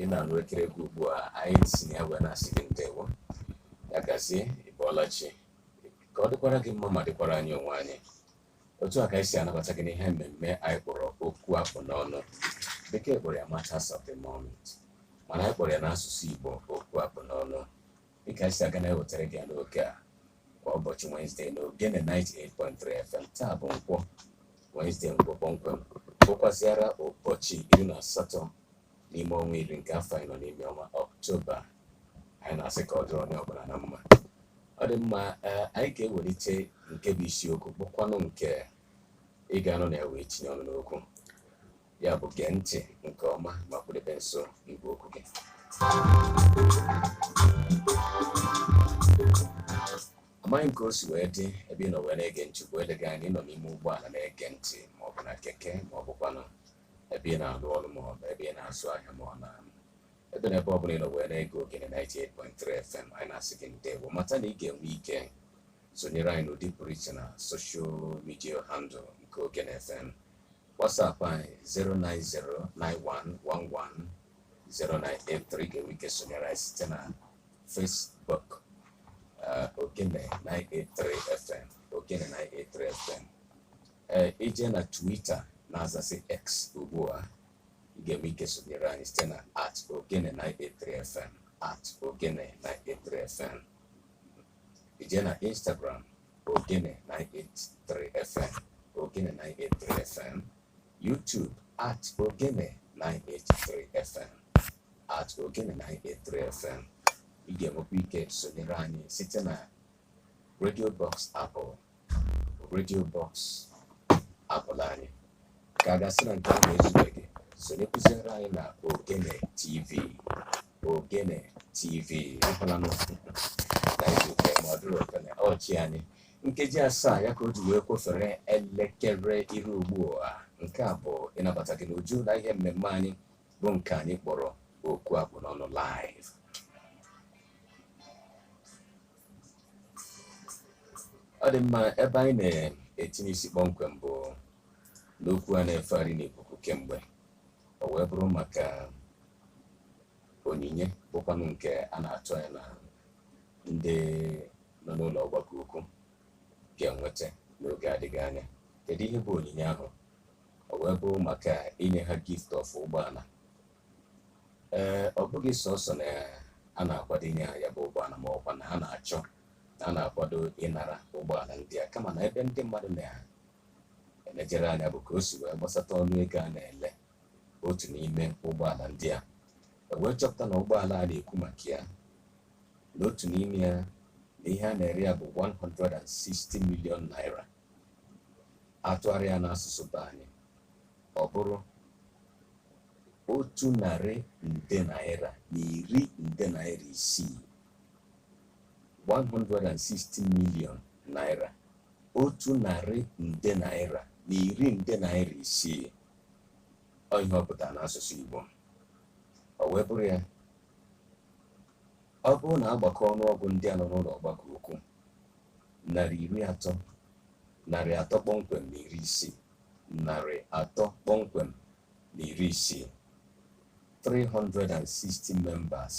ị na-anụ ekere gị ugbu a anyị si na ya wee na-asị gị ndewo ya gazie ịbọọla chi ka ọ dịkwara gị mma ma dịkwara anyị onwe anyị otu a ka anyị si anabata gị n'ihe mmemme anyị kpọrọ okwu akpụ n'ọnụ bekee kpọrọ ya matters of the moment mana anyị kpọrọ ya n'asụsụ igbo okwu akpụ n'ọnụ dịka anyị si aga na-ewetara gị ya n'oge a kwa ụbọchị Wednesday na Ogene 98.3 FM taa bụ nkwọ Wednesday nkwọ kpọmkwem bụkwazịara ụbọchị iri na asatọ n'ime ọnwa iri nke afọ anyị nọ n'ime ọnwa ọktoba anyị na-asị ka ọ dịrị onye ọbụla na mma ọ dị mma eh, anyị ga-ewelite nke bụ isiokwu bụkwanụ nke ị ga-anọ na ya wee tinye ọnụ n'okwu ya bụ gee ntị nke ọma ma kwudebe nso igwe okwu gị amaghị m ka o si wee dị ebe ị nọ wee na-ege ntị bụ eleghị anya ị nọ n'ime ụgbọala na-ege ntị maọbụ na keke maọbụkwanụ ebe ị na-alụ ọrụ ma ọ bụ ebe ị na-azụ ahịa ma ọ na ebe na ebe ọ bụla ị nọ wee na-ege ogene 98.3 FM anyị na-asị gị ndewo mata na ị ga-enwe ike sonyere anyị n'ụdị pụrụ iche na social media handle nke ogene FM WhatsApp anyị 09091110983 ga-enwe ike sonyere anyị site na Facebook uh, Ogene 983 FM Ogene 983 FM ee i je na Twitter na-azazị X ugbu a ị ga-enwe ike sonyere anyị site na at ogene 983 fm at ogene 983 fm i je na Instagram ogene 983 fm ogene 983 fm YouTube at ogene 983 fm at ogene 983 fm ị ga-enwekwa ike sonyere anyị site na Radio Box Apple Radio Box Apple anyị ka a ga-asị na nke ahụ ezubeghị sonyekwuziere anyị na ogene tv ogene tv ekwela n'ụkwụ na izuụka ma ọ dịrị ogene ọchị anyị nkeji asaa ya ka o ji wee kwofere elekere iri ugbu a nke a bụ ịnabata gị n'uju na ihe mmemme anyị bụ nke anyị kpọrọ okwu akpụ n'ọnụ live ọ dị mma ebe anyị na-etinye isi kpọmkwem bụ n'okwu a na-efegharị n'ikuku kemgbe o wee bụrụ maka onyinye bụkwanụ nke a na-atụ anya na ndị nọ n'ụlọ ọgbakọ ukwu ga-enweta n'oge adịghị anya kedu ihe bụ onyinye ahụ o wee bụrụ maka inye ha gift of ụgbọala ee ọ bụghị sọsọ na a na-akwado inye ha ya bụ ụgbọala ma ọkwa na ha na-achọ na a na-akwado ịnara ụgbọala ndị a kama na ebe ndị mmadụ na-elejere anya bụ ka o si wee gbasata ọnụ ego a na-ele otu n'ime ụgbọala ndị a e wee chọpụta na ụgbọala a na-ekwu maka ya na otu n'ime ya na ihe a na-ere ya bụ 160 million naira a tụgharịa ya n'asụsụ be anyị ọ bụrụ otu narị nde naira na iri nde naira isii 160 million naira otu narị nde naira na iri nde naira isii ọ ihe ọ pụtara n'asụsụ Igbo o wee bụrụ ya ọ bụrụ na a gbakọọ ọnụọgụ ndị a nọ n'ụlọ ọgbakọ ukwu narị iri atọ narị atọ kpọmkwem na iri isii narị atọ kpọmkwem na iri isii 360 members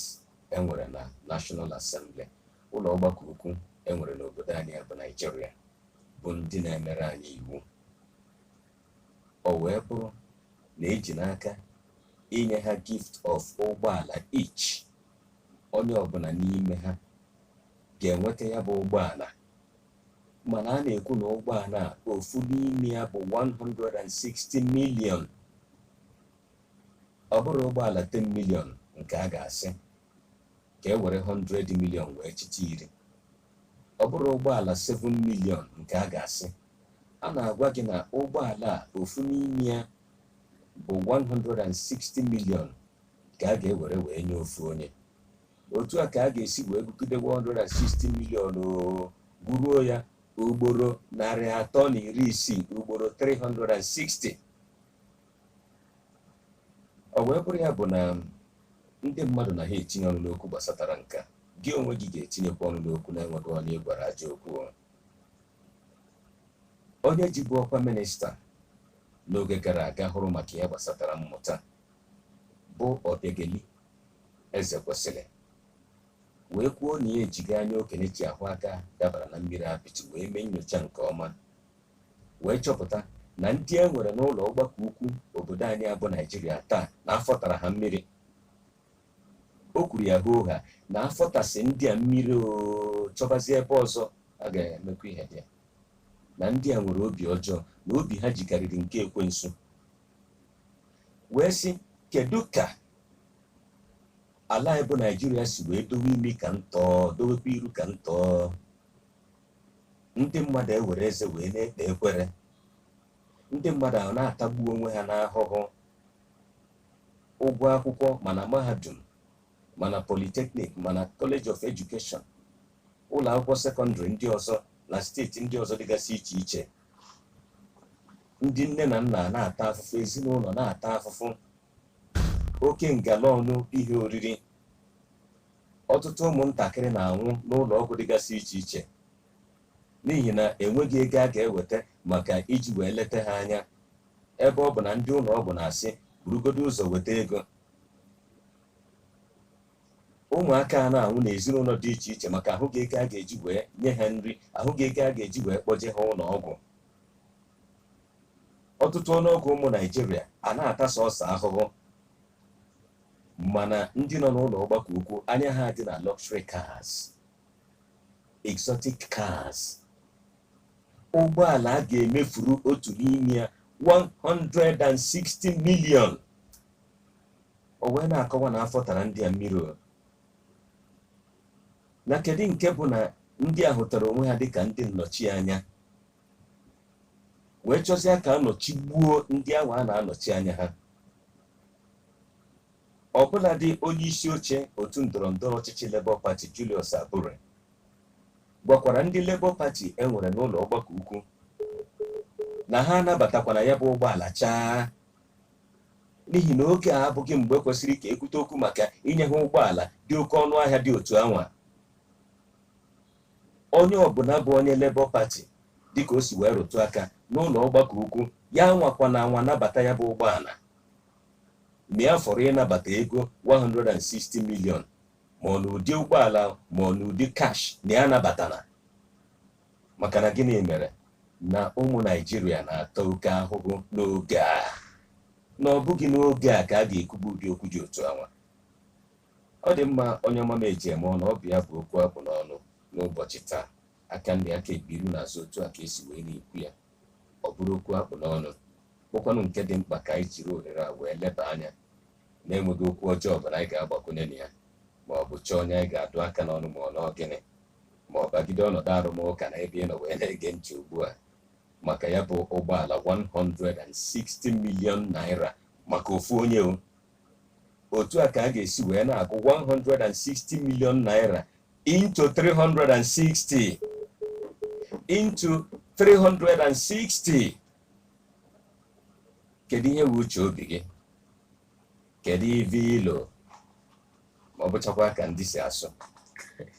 e nwere na National Assembly ụlọ ọgbakọ ukwu e nwere n'obodo anyị bụ Naijiria bụ ndị na-emere anyị iwu o wee bụrụ na e ji n'aka inye ha gift of ụgbọala each onye ọbụla n'ime ha ga-enweta ya bụ ụgbọala mana a na-ekwu na ụgbọala a ofu n'ime ya bụ 160 million ọ bụrụ ụgbọala 10 million nke a ga-asị ka e were 100 million wee chịta iri ọ bụrụ ụgbọala 7 million nke a ga-asị a na-agwa gị na ụgbọala a ofu n'ime ya bụ 160 million ka a ga-ewere wee nye ofu onye otu a ka a ga-esi wee gụgide 160 million gụruo ya ugboro narị atọ na iri isii ugboro 360 o wee bụrụ ya bụ na ndị mmadụ na ha etinye ọnụ n'okwu gbasatara nke a gị onwe gị ga-etinyekwa ọnụ n'okwu na-enweghị onye ị gwara ajọ okwu onye jibu ọkwa minista n'oge gara aga hụrụ maka ihe gbasatara mmụta bụ Obiageli Ezekwesili wee kwuo na ya ejigo anya okenye ji ahụ aka dabara na mmiri apịtị wee mee nyocha nke ọma wee chọpụta na ndị e nwere n'ụlọ ọgbakọ ukwu obodo anyị a bụ Naijiria taa na afọ tara ha mmiri o kwuru ya hoo haa na afọ tasị ndị a mmiri oo chọbazie ebe ọzọ a ga-emekwa ihe dị ya na ndị a nwere obi ọjọọ na obi ha jikarịrị nke ekwensu wee sị kedu ka ala anyị bụ naijiria si wee dowe imi ka ntọọ dowekwa iru ka ntọọ ndị mmadụ ewere eze wee na-ekpe ekwere ndị mmadụ ahụ na-atagbu onwe ha n'ahụhụ ụgwọ akwụkwọ ma na mahadum ma na polytechnic ma na college of education ụlọ akwụkwọ sekọndịrị ndị ọzọ na steeti ndị ọzọ dịgasị iche iche ndị nne na nna na-ata afụfụ ezinụlọ na-ata afụfụ oke ngala ọnụ ihe oriri ọtụtụ ụmụntakịrị na-anwụ n'ụlọ ọgwụ dịgasị iche iche n'ihi na enweghị ego a ga-eweta maka iji wee leta ha anya ebe ọ bụ na ndị ụlọ ọgwụ na-asị burugodo ụzọ weta ego ụmụaka a na-anwụ n'ezinụlọ dị iche iche maka ahụghị ego a ga-eji wee nye ha nri ahụghị ego a ga-eji wee kpọje ha ụlọ ọgwụ ọtụtụ ọnụọgụ ụmụ naijiria a na-ata sọsọ ahụhụ mana ndị nọ n'ụlọ ọgbakọ ukwu anya ha dị na luxury cars exotic cars ụgbọala a ga-emefuru otu n'ime ya 160 million O wee na-akọwa na afọ tara ndị a mmiri o na kedu nke bụ na ndị a hụtara onwe ha dịka ndị nnọchianya wee chọzie ka a nọchigbuo ndị ahụ a na-anọchi anya ha ọbụladị onye isi oche otu ndọrọ ndọrọ ọchịchị Labour Party Julius Abure gwakwara ndị Labour Party e nwere n'ụlọ ọgbakọ ukwu na ha anabatakwana ya bụ ụgbọala chaa n'ihi na oge a abụghị mgbe kwesịrị ka e kwute okwu maka inye ha ụgbọala dị oke ọnụ ahịa dị otu anwa onye ọbụla bụ onye Labour Party dịka o si wee rụtụ aka n'ụlọ ọgbakọ ukwu ya anwakwana anwa nabata ya bụ ụgbọala ma ya fọrọ ịnabata ego 160 million ma ọ n'ụdị ụgbọala ma ọ n'ụdị cash na ya anabatana maka na gịnị mere na ụmụ naijiria na-ata oke ahụhụ n'oge a na ọ bụghị n'oge a ka a ga-ekwubu ụdị okwu dị otu anwa ọ dị mma onye ọma m eji eme ọnụ ọ bụ ya bụ okwu akpụ n'ọnụ n'ụbọchị taa aka nri aka ekpe iru na azụ otu a ka esi wee na-ekwu ya ọ bụrụ okwu akpụ n'ọnụ bụkwanụ nke dị mkpa ka anyị jiri ohere a wee leba anya na enweghị okwu ọjọọ ọbụla anyị ga-agbakwunye na ya ma ọ bụ chọọ onye anyị ga-adụ aka n'ọnụ ma ọ na ọ gịnị ma ọ bagide ọnọdụ arụmụka na ebe ị nọ wee na-ege ntị ugbu a maka ya bụ ụgbọala 160 million naira maka ofu onye o. otu a ka a ga-esi wee na-agụ 160 million naira into 360 into 360 kedu ihe bụ uche obi gị kedu ive i lo ma ọ bụchakwa ka ndị si asụ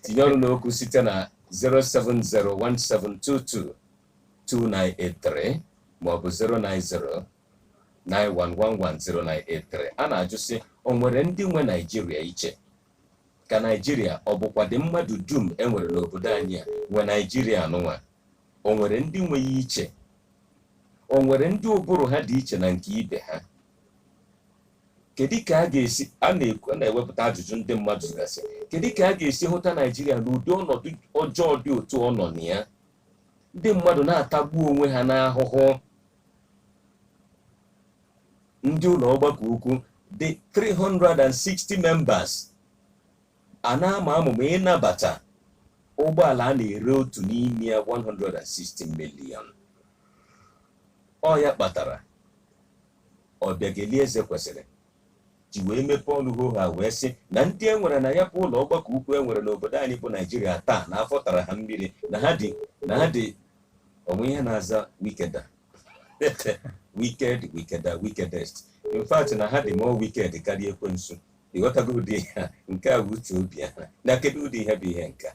tinye ọnụ n'okwu site na 07017222983 maọbụ 09091110983 a na-ajụ sị o nwere ndị nwe naijiria iche ka naijiria ọ bụkwa ndị mmadụ dum e nwere n'obodo anyị a nwe naijiria nụnwa o nwere ndị nwe ya iche o nwere ndị ụbụrụ ha dị iche na nke ibe ha kedu ka a ga-esi a na-ewepụta ajụjụ ndị mmadụ gasị kedu ka a ga-esi hụta naijiria n'ụdị ọnọdụ ọjọọ dị otu ọ nọ na ya ndị mmadụ na-atagbu onwe ha n'ahụhụ ndị ụlọ ọgbakọ ukwu dị 360 members a na-ama amụma ịnabata ụgbọala a na-ere otu n'ime ya 160 million ọ ya kpatara Ọbịageli Ezekwesili ji wee mepee ọnụ hoo haa wee sị na ndị e nwere na ya bụ ụlọ ọgbakọ ukwu e nwere n'obodo anyị bụ naijiria taa na afọ tara ha mmiri na ha dị na ha dị o nwe ihe na-aza wickeder wicked wickeder wickedest in fact na ha dị more wicked karịa ekwensu ị ghọtago ụdị ihe a nke a bụ uche obi ha na kedu ụdị ihe bụ ihe nke a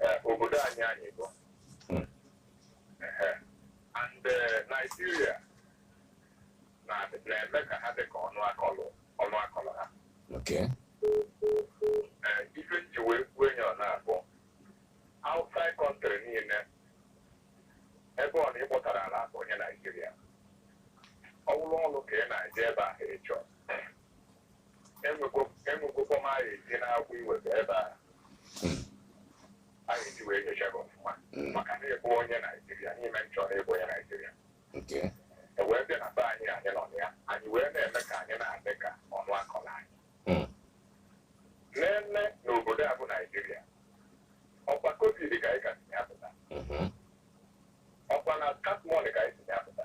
eh, obodo anyị anyị bụ Mm. Ehe. and eh, Nigeria na- na-eme ka ha dị ka ọnụ akọlụ ọnụ akọlụ ha Okay. Eh, ife m ji wee kwuo enyi ọ na-abụ outside country niile ebe ọ na ị kpọtara ala bụ onye Naijiria ọ bụrụ ọrụ ka ị na-eje ebe ahụ ịchọ enwegokwa m anyị dị n'akwụ iweta ebe a anya e ji wee nyocha gị ọfụma maka na ị bụ onye naijiria n'ime nchọrọ ịbụ onye naijiria e wee bịa na be anyị anyị nọ ya anyị wee na-eme ka anyị na-adị ka ọnụ akọla anyị nne n'obodo a bụ naijiria ọkwa covid ka anyị ka si ya pụta ọkwa na katmọnị ka anyị si ya pụta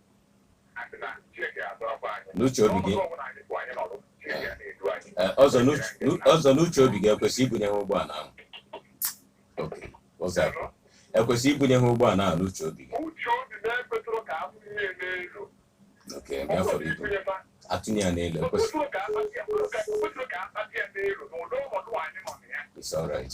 n'uche obi gị ọzọ n'uche obi gị e kwesịrị ibunye ha ụgbọala ahụ e kwesịrị ibunye ha ụgbọala ahụ n'uche obi gị oke ebe afọ ibu atụnye ya n'elu ekwesị it's all right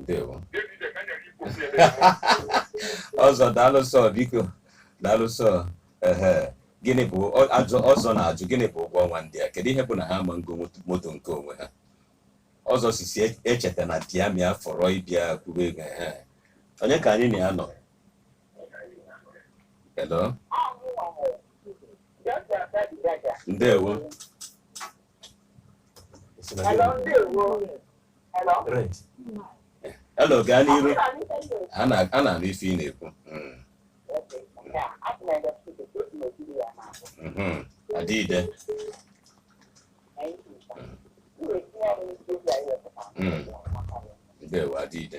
ndewo ọzọ daalụ sọ biko daalụ sọ ehe gịnị bụ ajụ ọzọ na-ajụ gịnị bụ ụgwọ ọnwa ndị a kedu ihe bụ na ha ama ngo moto nke onwe ha ọzọ sisi e, echeta na diamia fọrọ ịbịa kwuru ego ha onye ka anyị na ya nọ hello ndewo Hello, gaa n'iru. A na-anụ ife ị na-ekwu. Hmm. Hmm. Adịide. Hmm. Ndewo, adịide.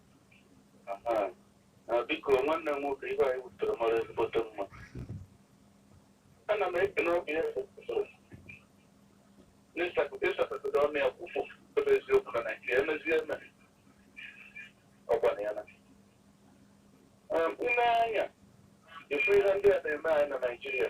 biko nwanne m nwoke ihe anyị wetere mara ezigbote mma ana m ekele obi ya n'ịsapụta ọnụ ya kwụfụ ebe eziokwu na naijiria emezie eme ọgbana ya na ile anya efu ihe ndị a na-eme anyị na naijiria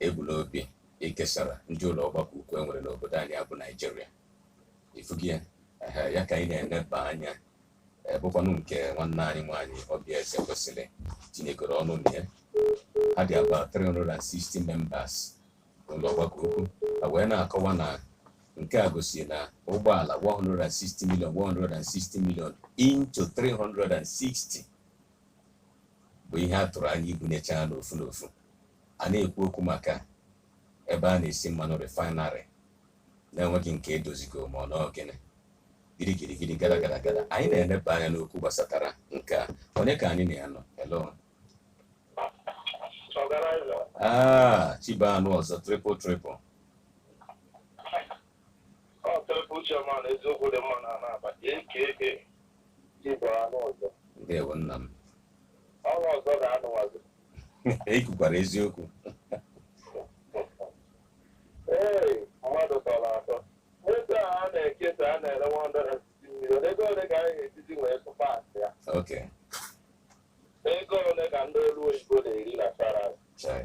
e bu n'obi ikesara ndị ụlọ ọgbakọ ukwu e nwere n'obodo anyị a bụ naijiria ị fụgo ya ehe, ya ka anyị na-eneba anya eh, bụkwanụ nke nwanne anyị nwaanyị oby ezekwesili tinyegoro ọnụ na ya ha dị about 360 members n'ụlọ ọgbakọ ukwu ha wee na-akọwa na nke a gosiri na ụgbọala 160 million 160 million into 360 bụ ihe a tụrụ anya ibunyecha n'ofu n'ofu a na-ekwu okwu maka ebe a na-esi mmanụ refinery na enweghị nke edozigo ma ọ n'ọ gịnị girigiri giri gada gada gada anyị na-eleba anya n'okwu gbasatara nke a onye ka anyị na ya nọ hello ah chi bọọ a nụ ọzọ triple triple ndewo nna m ọrụ ọzọ ga-anụwazi i kwukwara eziokwu ee mmadụ tọrọ atọ moto a a na-ekesa a na-ere 160 million ego ole ka anyị ga-ejizi wee tụpa asị ya okay ego ole ka ndị ọlụ oyibo na-eri na salary chai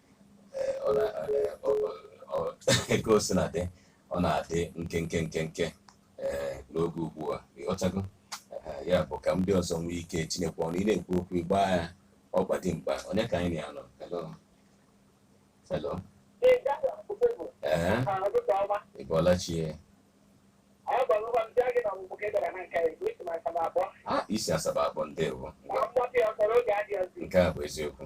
ka o sina dị ọ na-adị nkenke nkenke ee n'oge ugbu a ịghọtago Ee, ya bụ ka ndị ọzọ nwee ike tinyekwa ọnụ ị na-ekwu okwu ịgba ya ọgba dị mkpa onye ka anyị na ya nọ hello hello ee ị bọọla chi ya a i si Asaba akpọ ndewo ngwa nke a bụ eziokwu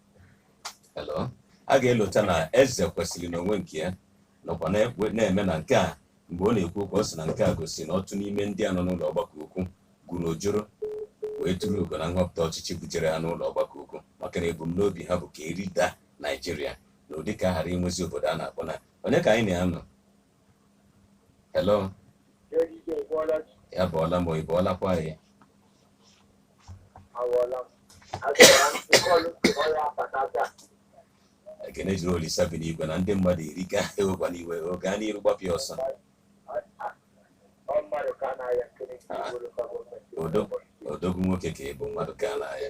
a ga-elota na Ezekwesili n'onwe nke ya nọkwa na-eme na nke a mgbe ọ na-ekwu okwu ọ sị na nke a gosi na ọtụtụ n'ime ndị a nọ n'ụlọ ọgbakọ ukwu gwuru ojoro wee turu ugo na nhọpụta ọchịchị bujere ha n'ụlọ ọgbakọ ukwu maka na ebumnobi ha bụ ka erida naijiria na ụdị ka a ghara inwezi obodo a na-akpọ na onye ka anyị na ya nọ Hello. Ya bọọla m o ị bọọlakwa ya. Ekene dịrị Olisa bi n'igwe na ndị mmadụ iri ka ewekwana iwe gaa n'iru gbapịa ọsọ. Odogwu nwoke ka ị bụ mmadụ ka a na-aya.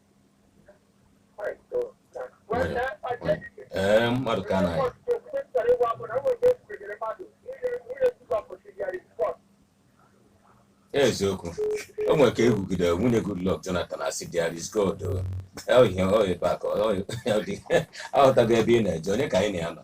ee mmadụ ka a na-aya eziokwu o nwere ka ekwugide nwunye Goodluck Jonathan asị there is God ihe ọ ebe a ka ọ dị aghọtago ebe ị na-eje onye ka anyị na ya nọ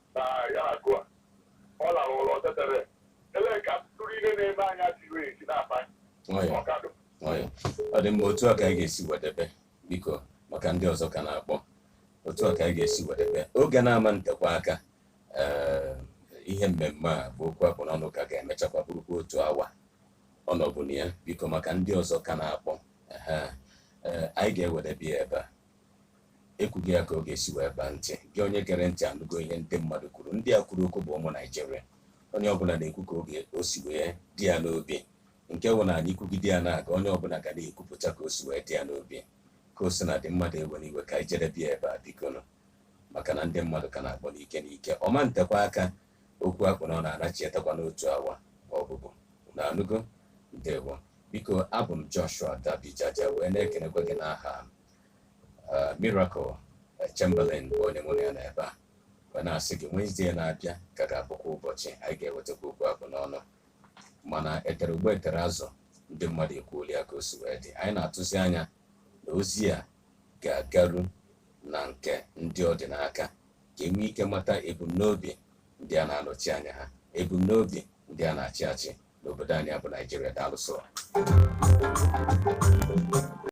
na ya agụ a ọ lara ụlọ tetere ele ka tụrụ ihe na-eme anya tiri esi na-akpa nwayọ ọkadụ nwayọ ọ dị mma otu a ka anyị ga-esi wedebe biko maka ndị ọzọ ka na-akpọ otu a ka anyị ga-esi wedebe oge na-ama ntekwa aka ee, ihe mmemme a bụ okwu akpụ n'ọnụ ka ga-emechakwa bụrụkwa otu awa ọ nọbu na ya biko maka ndị ọzọ ka na-akpọ ehe, ee, anyị ga-ewedebe ya ebe a ekwugo ya ka ọ ga-esi wee baa ntị gị onye gere ntị anụgo ihe ndị mmadụ kwuru ndị a kwuru okwu bụ ụmụ naijiria onye ọbụla na-ekwu ka o si wee dị ya n'obi nke bụ na anyị kwugide ya na-aga onye ọbụla ga na-ekwupụta ka o si wee dị ya n'obi ka o sina dị mmadụ ewela iwe ka anyị jedebe ya ebe a bikonụ maka na ndị mmadụ ka na-akpọ n'ike n'ike ọ ma ntekwa aka okwu akpụ n'ọnụ anachiatakwa n'otu awa ọ bụbu na anụgo ndewo biko abụ m joshua dabijaja wee na-ekenekwa gị n'aha uh, Miracle Chamberlain bụ onye mụ na ya nọ ebe a wee na-asị gị Wenezdee na-abịa ka ga-abụkwa ụbọchị anyị ga-ewetakwa okwu akpụ n'ọnụ mana etere ụgbọ etere azụ ndị mmadụ ekwuoli ya ka o si wee dị anyị na-atụzi anya na ozi a ga-agaru na nke ndị ọ dị n'aka ka e nwee ike mata ebumnobi ndị a na-anọchi anya ha ebumnobi ndị a na-achị achị n'obodo anyị bụ Naijiria daalụ sọ